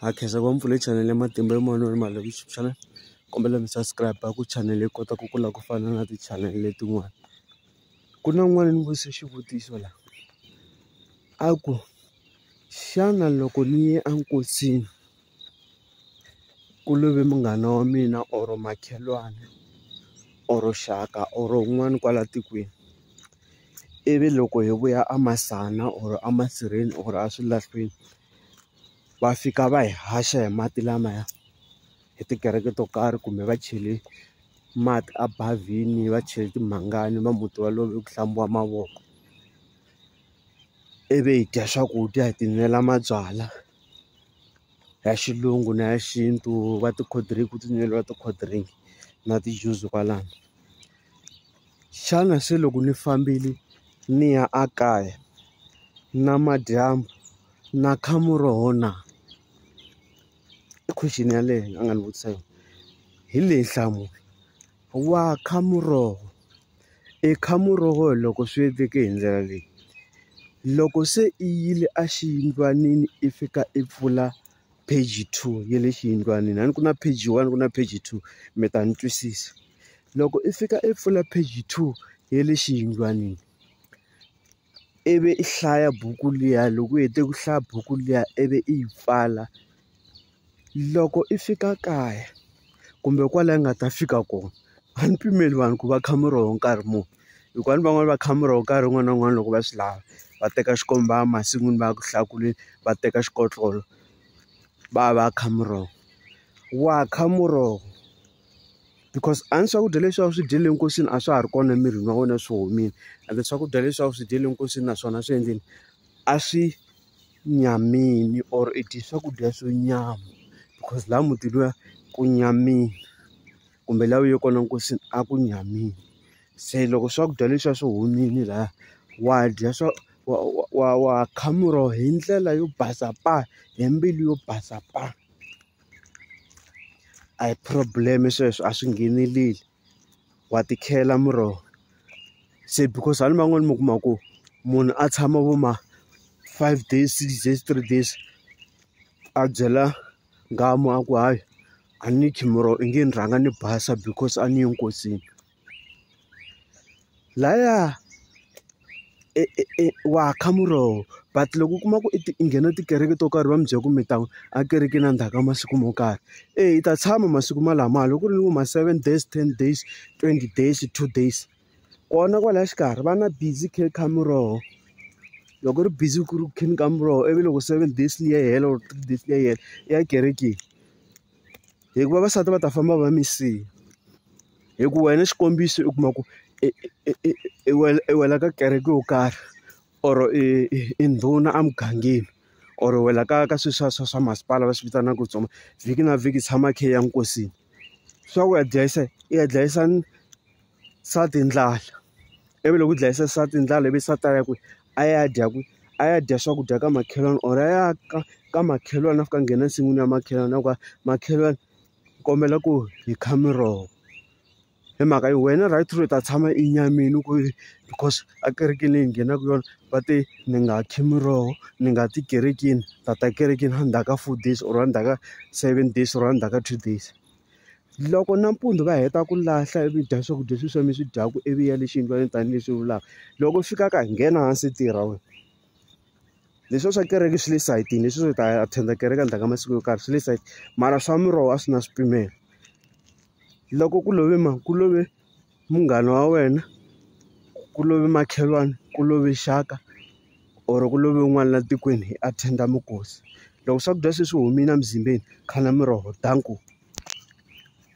Ha khensa ku va mi pfule chanele ya matimba yo moya no rima loko YouTube channel kombela mi subscribe ku chanele yi kota ku kula ku fana na ti-channel letin'wana ku na n'wana ni vutise xivutiso la a ku xana loko ni ye a nkosini ku love munghana wa mina or makhelwani or xaka or un'wana kwala tikweni ivi loko hi vuya a Masana or a Masirheni or a Swilahlweni va fika va hi haxa hi mati lamaya hi tikereke to karhi kumbe va chele mati a bavhini va chele timhangani va muti waloye ku hlambiwa mavoko ivi hi dya swakudya hi tinwela mabyalwa ya xilungu na ya xintu va ti-cold drink ku tinweriwa ti-cold drink na ti-juice kwalano. Xana se loko ni fambile ni ya a kaya namadyambu na kha muroho na? I question yaleyo a nga ni vutisa yona hi leyi nhlamulo wa kha muroho i kha muroho loko swi endleke hi ndlela leyi loko se i yile exiyindlwanini i fika i pfula page two ya le xiyindlwanini a ni ku na page one ku na page two mi ta ni twisisa loko i fika i pfula page two ya le xiyindlwanini ivi i hlaya buku liya loko u hete ku hlaya buku liya ivi i yi pfala loko i fika kaya kumbe kwala i nga ta fika kona a ni pimeliwangi ku va kha mi ri nkarhi muni. hikuva ni van'wani va kha muroho nkarhi wun'wani na wun'wani loko va swi lava va teka xikomba masin'wini va ya ku hlakuleni va teka xikotlolo va ya va ya kha muroho wa kha muroho because a ni swakudya leswi a wu swi dyele nkosini a swa ha ri kona emirini wa wena swi humile ende swakudya leswi a wu swi dyele nkosini naswona swi endleni a swi nyamile or i dye swakudya swo nyama because laha mutini luya ku nyamile. kumbe laha u ye kona nkosini a ku nyamile se loko swakudya leswiya swi humile lahaya wa dya swa wa wa wa wa kha muroho hi ndlela yo basa pa hi mbilu yo basa pa a hi problem sweswo a swi ngheneleli wa ti khela muroho se because hala man'wani mi kuma ku munhu a tshama vo ma five days six days three days a byela. Nghamu a ku hayi a ni khimiroho i nge ni rhanga ni basa because a ni yi nkosini laya wa kha muroho but loko u kuma ku i ti i nghena tikereke to karhi va mi byela ku mi ta a kerekeni endzhaku ka masiku mo karhi eyi i ta tshama masiku malama loko ku ri ni vo ma seven days ten days twenty days two days. kona kwalaya xikarhi va na busy khe kha muroho loko ri busy ku ri kheni ka muroho ivi loko seven days liya yi hela or three days liya yi hela i ya kerekeni hikuva vavasati va ta famba va mi siya hi ku wena xikombiso u kuma ku i i i i wena i wela ka kereke yo karhi or i i ndhuna emugangeni or wena ka ka swilo swa swa swa masipala va swi vitanaka ku tsoma vhiki na vhiki tshama khe i ya nkosini swa ku ya dlayisa i ya dlayisa ni. nsati hi ndlala ivi loko u dlayisa nsati hi ndlala ivi nsati a ya kwihi a ya dya kwihi a ya dya swakudya ka makhelwani or a ya ka ka makhelwani a fika a nghena ensin'wini ya makhelwani a ku a makhelwani ni kombela ku hi kha miroho hi mhaka yo wena right u ta tshama enyameni ku because ekerekeni leyi hi nghenaka yona va te ni nga khi miroho ni nga ti kerekeni ni ta ta ekerekeni endzhaku ka four days or endzhaku ka seven days or endzhaku ka two days. Loko nampundzu va heta ku lahla ivi dya swakudya sweswiya mi swi dyaka ivi ya le xiyindlwanini tanihileswi u vulaka. Loko u fika kaya nghena hansi tirha wena. Leswiya swa kereke swi le sayitini, leswi swo hi ta attend kereke endzhaku ka masiku yo karhi swi le sayitini, mara swa miroho a swi na swipimelo. Loko ku love mani? Ku love. munghana wa wena, ku love makhelwani, ku love xaka or ku love un'wana la tikweni hi attend-a minkosi. Loko swakudya se swi humile emizimbeni kha na miroho dankie.